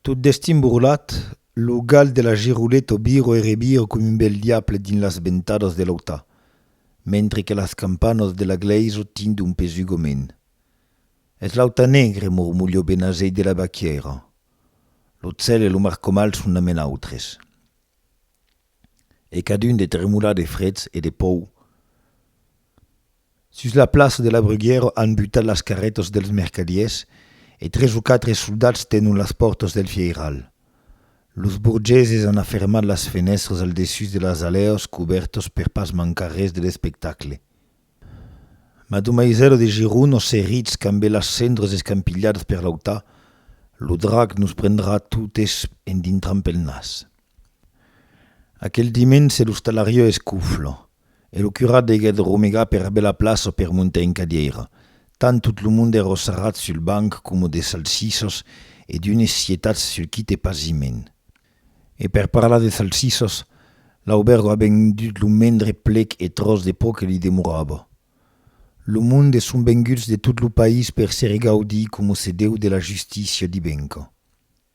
Tot destin burlat, lo gal de la Giroleta o viro e reviro com un bèl diable dins las ventadas de l'auta, mentre que las campanas de la glèisa tindon un pesugament. Es l'auta negre, mormolhó Benazet de la Baquièira. Lo cèl e lo mar comal son a men autres. E cadun de tremolar de freds e de pòur. Sus la plaça de la Bruguièra an butat las carrètas dels mercadiers e tres o quatre soldats tenon las pòrtas del fièiral. Los burgeses an afermat las fenèstras al dessús de las alèas cubèrtas per pas mancar res de l'espectacle. Mas d'un maisèla de gironas serrits cambé las cendras escampilhadas per l'auta, lo drac nos prendrà totes en dintrant pel nas. Aquel dimenge l'ostalariá escofla. e lo curat deguèt romegar pera bèla plaça per montar en cadièira, tant tot lo monde èra sarrat sul banc coma de salsisas e d'unes sietats sul quite pasiment. E per parlar de salsisas, Laubergo a vendut lo mendre plec e tròç de pò que li demorava. Lo monde son venguts de tot lo país per se regaudír coma se deu de la justícia divenca.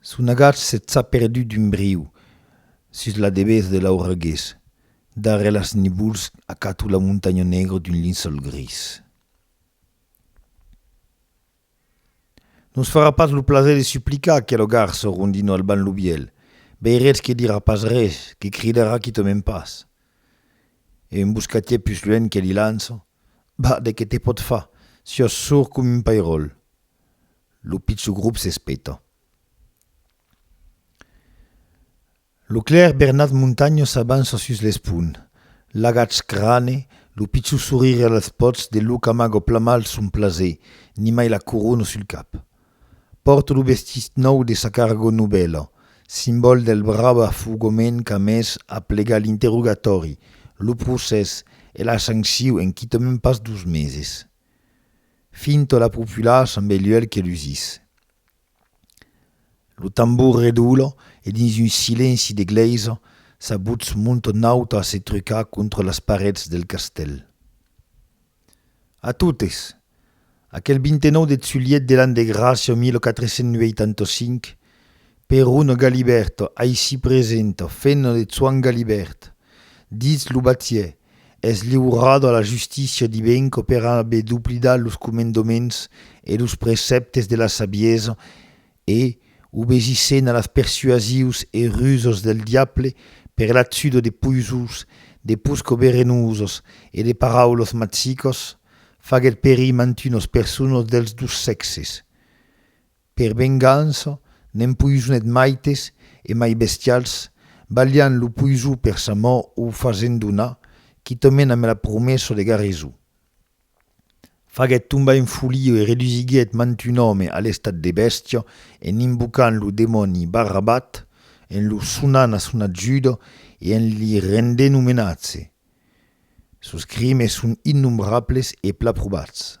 Son agach se tsa perdut d'un briu sus la debés de l'auregués. Darrèr las nivols acato la montanha negra d'un linçòl gris. Non s' farà pas lo plaser de suplicar aquelo garçon rondinò albant lo bièlh, veiretz que dirà pas res, que cridarà quitament pas. E un boscatièr pus luènh que li lança, Bah, de qué te pòt far, siòs sord com un pairòl. Lo pichon grop s'espeta. Lo clèr Bernat Montagno s'avança sus l'espon. L'agach crane, lo pichon sorire als pòts de lo camago plamal son plaser, nimai la corona sul cap. Pòrt lo vestit nòu de sa cargo novèla, simbòl del brabafugament qu'a mès a plegar l'interrogatòri, lo procès e la sancion en quitament pas dos meses. Fin to la populaç amb Eluèlh que lusís. Lo tambor redoula e dins un silenci de glèisa sa votz monta nauta a se trucar contra las parets del castèl. A totes! Aquel 29 deth julhet de l'an de gràcia 1485, Perun Galibèrt, aicí present, fenna de Choan Galibèrt, ditz lo batièr, es liurat a la justícia dibenca per aver doblidat los comendaments e los precèptes de la sabiesa e, obesissent a las persuasius e rusas del diable per l'atzuda de poisons, de pòsca verenosas e de paraulas magicas, faguèt perir mantunas personas dels dos sèxes. Per vengança, n'empoisonet maites e mai bestials, balhant lo poison per sa mò o fasent donar, quitament amb la promessa de garreso. Faguet tombar en folia e redusiguet mant un òme a l'estat de bèstia en invocant lo demòni Barrabat, en lo sonant a son ajuda e en li rendent omenatge. Sos crimes son innombrables e pla probats.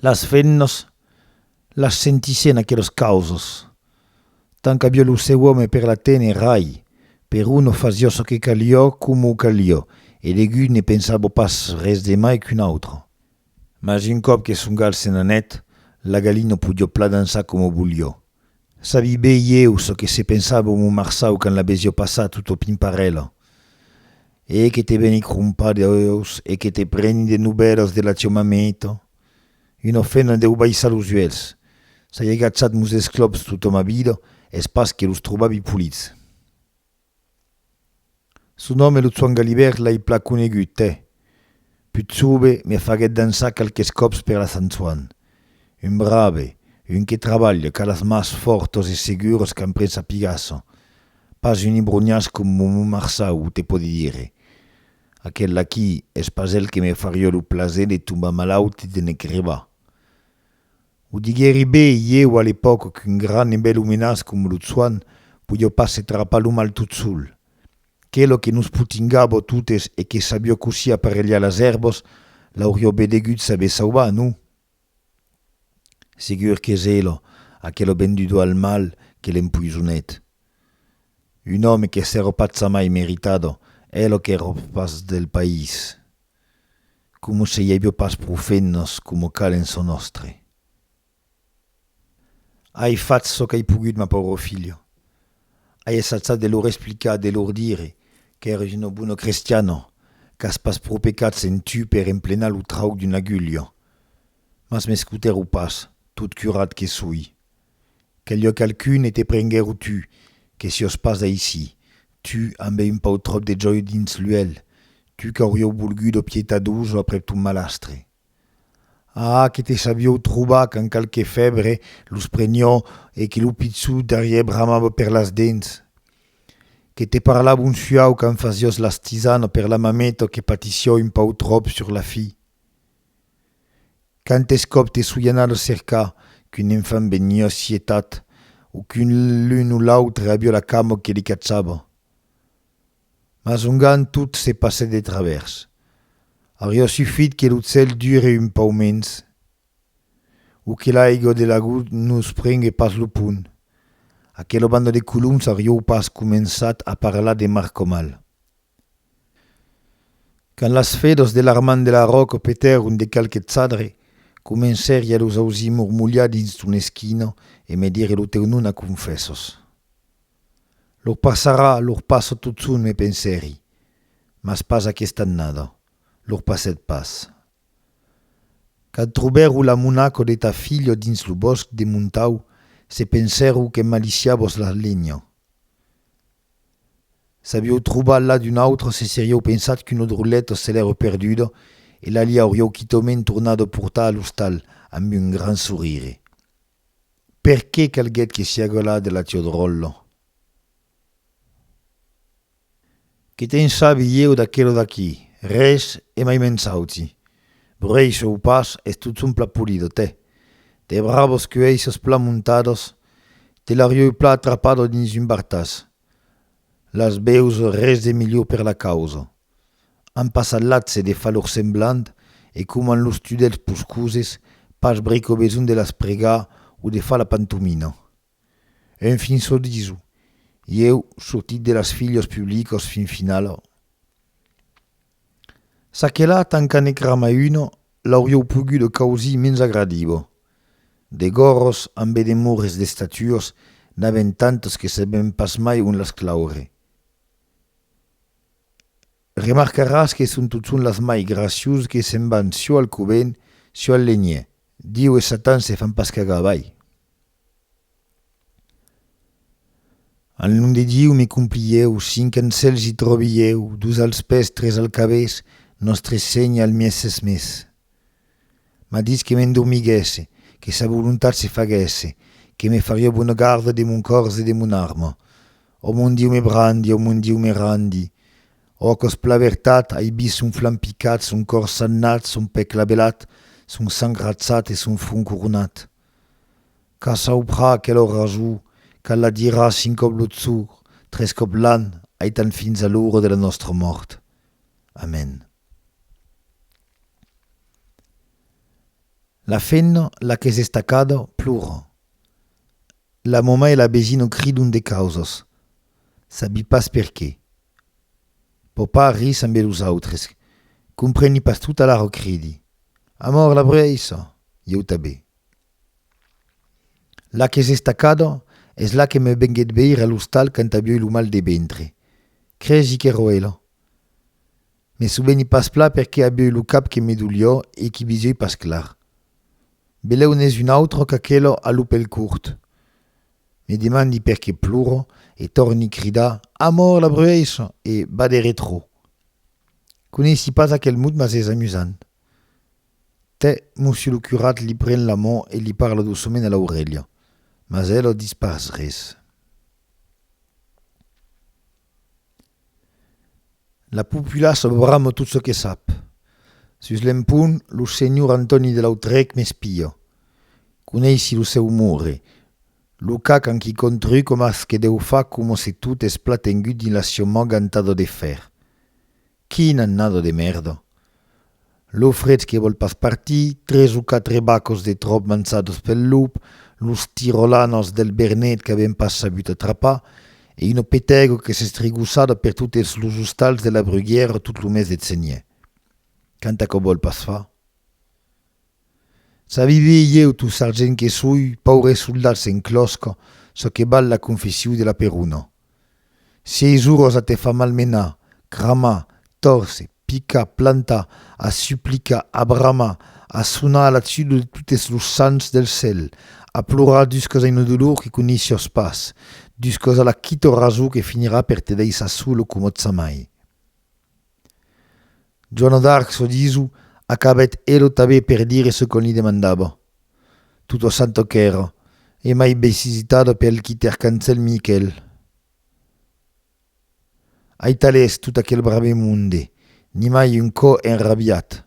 Las femnas las sentissián aquelas causas, tant qu'avió lo seu òme per la téner rai, peró no fasió çò que calió coma calió, e degut ne pensabó pas res de mai qu'un autre. Mas un còp que son gal se n'anèt, la galina podió pla dançar coma volió. Sabi be ieu çò que se pensava mon marçau quand l'abesio passat tot au pimparèla. E que te veni crompar deus e que te preni de novèlas de la tieu mameta? Un ofènt a deu baissar los uèlhs. S'ai agachàt mos esclòps tota ma vida es pas que los trobavi polits. Su nòme lo Tsuan Galibèrt l'ai plan conegut, eh! Put sobe me faguèt dançar qualques còps per la Sant Tsuan. Un brave, un que trabalha, qu'a las mas fòrtos e seguros qu'an pren sa pigason. Pas un ibroniàs com Mumu Marçau o te pòdi dire. Aquel aquí es pas el que me farió lo plaser de tombar malaut e de ne crebar. O diguèri be, ieu a l'epòca qu'un gran e bèl omenàs com lo Tsuan podió pas se trapar lo mal tot sol. Qué lo que nos potingàbo totes e que sabió cossí aparelhar las èrbas, l'aurió be degut saber sauvar, non? Segur qu'es ela, aquela venduda al mal, que l'empoisonèt. Un òme qu'es era patza mai meritada, ela qu'era patz del país. Como se i avió pas pro fennos como cal en çò nòstre. Ai fach çò qu'ai pogut, ma pauro filho. Ai essachat de lor explicar, de lor dire qu'ères uno buono crestiano, qu'as pas pro pecats en tu per emplenar lo trauc d'un agullho. Mas m'escutèro pas, tot curat que soi. Quel lhòc alcun e te prenguèro tu, que siòs pas d'aicí, tu ambe un pauc tròp de jòio dins l'uèlh, tu qu'aurieu volgut o pietadós o aprèp ton malastre. Ah, que te sabieu trobar quand qualque fèbre los prenió e que lo pichou darrièr bramava per las dents! Que te parlava un suau quand fasiós las tisanas per la mameta que patissió un pauc tròp sur la fi! Quantes còps te soi anada cercar qu'un enfant veniá sietat o que l'un o l'autre aviá la cama que li cachava. Mas ongan tot se passèt de travèrs. Auriá sufit que lo cèl dure un pauc mens o que l'aiga de l'agost nos prengue pas lo pont, aquela banda de coloms auriáu pas començat a parlar de Marcomal. Quand las fedors de l'armand de la ròca petèron de qualque chadre, comencèri a los ausir mormolhar dins ton esquina e me dire lo teu nom a confèssos. Lo passarà, lo passa totson, me pensèri, mas pas aquesta annada, lo passèt pas. Quand trobèro la monaca de ta filha dins lo bòsc de Montau, se pensèro que maliciavos la lenha. S'avieu trobat la d'un autre se serieu pensat qu'una droleta se l'ère perduda e la li aurieu quitaument tornada a portar a l'ostal amb un gran sorire. Per qué calguèt que siá galada de la tia dròlla? Qué te'n sabi ieu d'aquela d'aquí? Res, e mai mensauti. Brèish o pas, es totson plat polido, tè! De bravos cuèisses plat montados, te l'arieu plat atrapado dins un bartàs. Las bèus res de milhor per la causa. An passat l'atz de far lor semblant e coman los tudèls poscoses, pas brico besonh de las pregar o de far la pantomina. En fin çò diso, ieu sortit de las filhas publicas fin finala. Ça que la tanca ne crama una l'aurieu poguda causir mens agradiva. De gorros ambe de mores d'estatuas n'avèm tantas que sabèm pas mai ont las claure. Remarcaràs que son totson las mai graciosas que se'n van çò al covent, çò al lenhièr. Diu e Satan se fan pas cagar avall. Al nom de Diu me complieu, cinc ans cèls i tròbi ieu, dus als pès, tres al cabés, Nòstre Sénher al mièses mes. M'a ditz que m'endormiguèsse, que sa volontat se faguèsse, que me farió bona garda de mon còrs e de mon arma. Ò mon Diu me brandi, ò mon Diu me randi, ò aquò's pla vertat, ai vist son flanc picat, son còr sagnat, son pè clavelat, son sang ratzat e son front coronat. Qu'a sauprar aquelo rasou, qu'a la dirar cinc còp lo tsour, tres còp l'an, aitant fins a l'ora de la nòstra mòrt. Amèn. La femna, la qu'es estacada, plora. La mama e la besina cridon de causas, sabi pas perqué. Popar ri sambe los autres, compreni pas tot alara cridi, Amor la breissa! Ieu tabé. La qu'es estacada es la que me venguet veir a l'ostal quand avioi lo mal de ventre. Cresi qu'èro ela. Me soveni pas pla perqué avioi lo cap que me dolió e qu'i visioi pas clar. Belèu n'es un autre qu'aquelo a lo pel curt. Me demandi perqué ploro e torni cridar Amor la bruèisson e va de retrò. Coneissi pas aquel mot mas es amusant. Tè, Mossio lo curat li pren la man e li parla doçoment a l'aurelha, mas elo dis pas res. La populaça brama tot çò que sap. Sus l'empont, lo senhor Antòni de Lautrèc m'espia. Coneissi lo seu umore. Lo cac en qui contrui coma ce que deu far coma se tot es plat engut dins la siomòga antada de fèr. Quin annada de mèrda! Lo frech que vòl pas partir, tres o quatre bacos de tròp manchados pel lop, los tirolanos del Bernet qu'avèm pas sabut atrapar e una petègo que s'estrigossada per totes los ostals de la Bruguièra tot lo mes de Cenièr. Quanta qu'o vòl pas far! Sabivi ieu, tu sargent que soi, paure soldat sen clòsc, çò que val la confessiu de la peruna. Si ei zorós a te far malmenar, cramar, tòrse, picar, plantar, a suplicar, a bramar, a sonar a la tudo de totes los sants del cèl, a plorar dus còs a una dolor que coneissos pas, dus còs a la quito rasor que finirà per te daissar solo comòtsamai. Joana d'Arc, çò diso, acabèt elo tabé per dire çò qu'on li demandava. Tota santa qu'èra, e mai besizitada per l'quiter cancèl Miquèl. Aitalés tot aquel brave monde, nimai un cò enrabiat.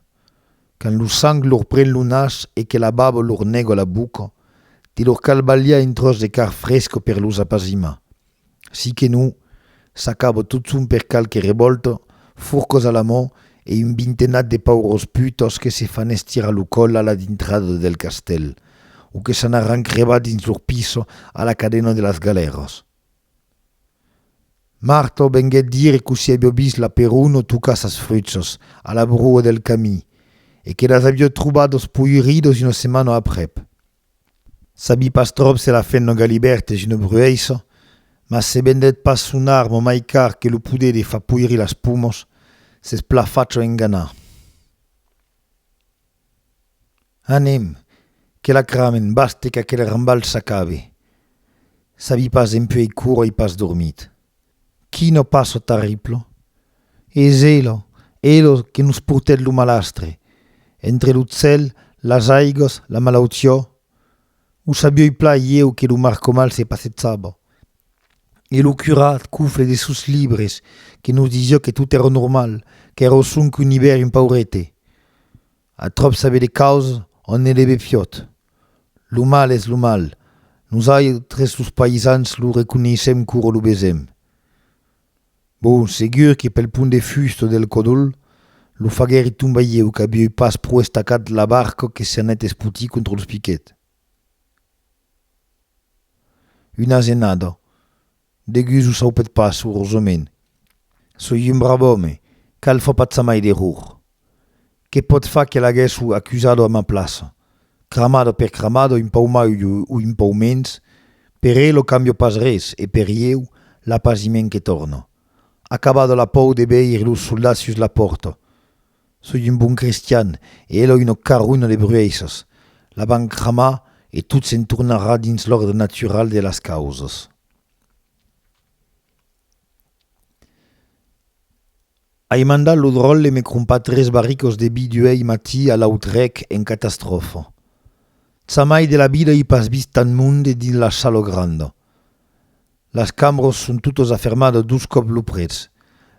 Quand lo sang lor pren lo nas e que la baba lor nèga la boca, te lor cal balhar un tròç de carn fresca per los apazimar. Si que non, s'acaba totson per qualque revòlta, forcas a la man e un vintenat de paurós putas que se fan estirar lo còl a la dintrada del castèl, o que s'anaràn crebar dins lor pisa a la cadena de las galèras. Marta venguèt dire cossí aviá vist la Peruna tocar sas fruchas a la broa del camin e que las aviá trobadas poiridas una setmana aprèp. Sabi pas tròp se la fen lo galibèrt e je ne brueis, mas se vendèt pas son arma mai car que lo poder de fa poiri las pumos, s'es pla facho enganar. Anem, que la cramen, baste qu'aquel rambal s'acabe. Sabi pas dempuèi quora ei pas dormit. Qui no pas çò terrible? Es ela, ela que nos portèt lo malastre, entre lo cèl, las aigas, la malautiá? O sabioi plan ieu que lo marcomal se passejava, e lo curat cufle de sos libres que nos disiá que tot èra normal, qu'èra sonque un ivèrn paurete? A tròp saber de causes ònt ne leve fiòt. Lo mal es lo mal, nosautres los païsans lo reconeissèm quora lo vesèm. Bon, segur que pel pont de Fust o del Còdol, lo faguèri tomba ieu qu'avieu pas pro estacat la barca que s'anèt espotir contra los piquets. Una asenada, Degus o saupet pas, urosament. Soi un brave òme, cal far pas jamai d'error. Que pòt far que l'aguèssu acusado a ma plaça? Cramado per cramado, un pauc mai o un pauc mens, per el o cambio pas res e per ieu, l'apasiment que torna. Acabado la pòu de veir los soldats sus la pòrta, Soi un bon cristian, e Eloi no carronha de brueisses. La van cramar e tot se'n tornarà dins l'òrdre natural de las causas. Ai mandat lo dròlle me crompar tres barricos de vi d'uèi matí a Lautrec en catastròfa. Tsamai de la vida ai pas vist tant monde dins la Salo Granda. Las cambros son totas afermadas dos còps lo prètz,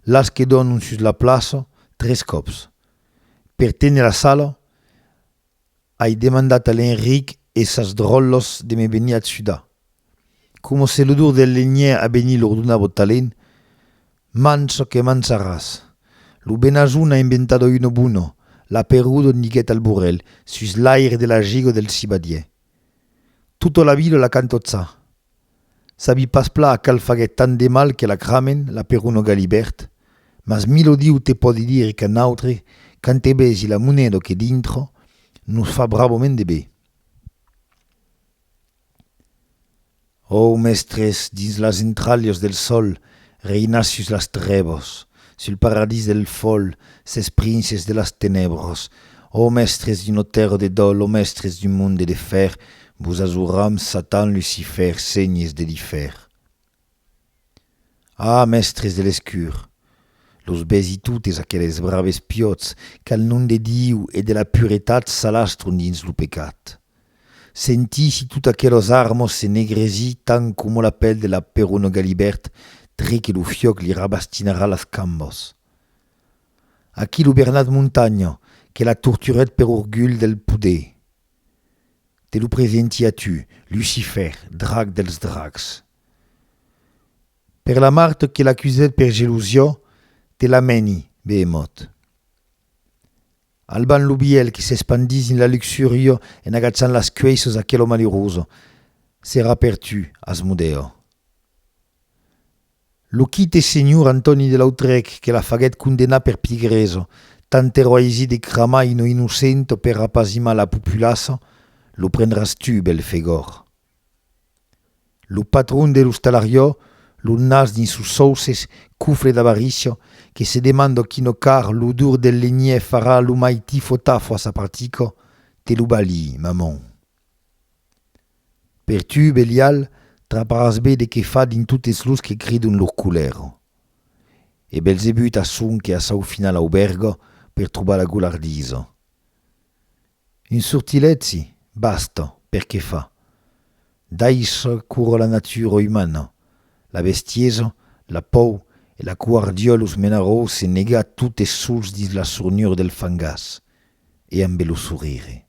las que dònan sus la plaça, tres còps. Per téner la sala, ai demandat a l'Enric e sas dròllas de me venir atsudar. Coma se l'odor del lenhièr abenit lor donava o talent, mancha que mancharàs! Lo Benazon a inventada una bona, la Peruda, diguèt Alborèl, sus l'aire de la giga del cibadièr. Tota la vila la cantotza! Sabi pas pla a qual faguèt tant de mal que l'acramen, l'aperono galibèrt, mas Milo Diu te pòdi dire qu'a nautre, quand te vesi la moneda que dintra, nos fa bravament de be. Ò, mèstres, dins las entralhas del sòl reinassus las trèvas, Sul paradís del fol, ses princes de las tenèbras, Ò mèstres d'una tèrra de dòl, ò mèstres d'un monde de fèr, Vos azoram, Satan, Lucifèr, senhes de lifèr. Ah, mèstres de l'escur! Los besi totes aqueles braves piòts, Qu'al nom de Diu e de la puretat S'alastron dins lo pecat. Sentisi tot aquelos armos se negresí tant coma la pel de la peruna Galibèrt tre que lo fiòc li rabastinarà las cambos. Aquí lo Bernat Montanha, que la torturèt per orgulh del poder, te lo presenti a tu, Lucifèr, drag dels drags. Per la Mart que l'acusèt per gelusió, te l'amèni, Beemòt. Alban lo bièlh qui s'espandís dins la luxurio en agachant las cuèissos aquelo maluroso serà per tu, Asmodèo. Lo quite senhor Antòni de Lautrèc que la faguèt condenar per pigresa, tant ero aisit de cramar ino innocento per apazimar la populaça, lo prendràs tu, bèlh Fegòr. Lo patron de l'ostalariò, lo nas dins sos sauces, cofre d'avaricia, que se demanda quina car l'odor del legnier farà lo mai tifo-tafo a sa partica, te lo balhi, maman. Per tu, Belial, traparàs be de qué fa dins totes los que cridon lor colèra. E Belzebut asson que a sau finala auberga per trobar la golardisa. Un sortilègi, basta, per que fa. Daishar córrer la natura umana, la bestiesa, la pòur e la coar dieu los menarò se negar totes sols dins la sornura del fangàs e ambe lo sorire.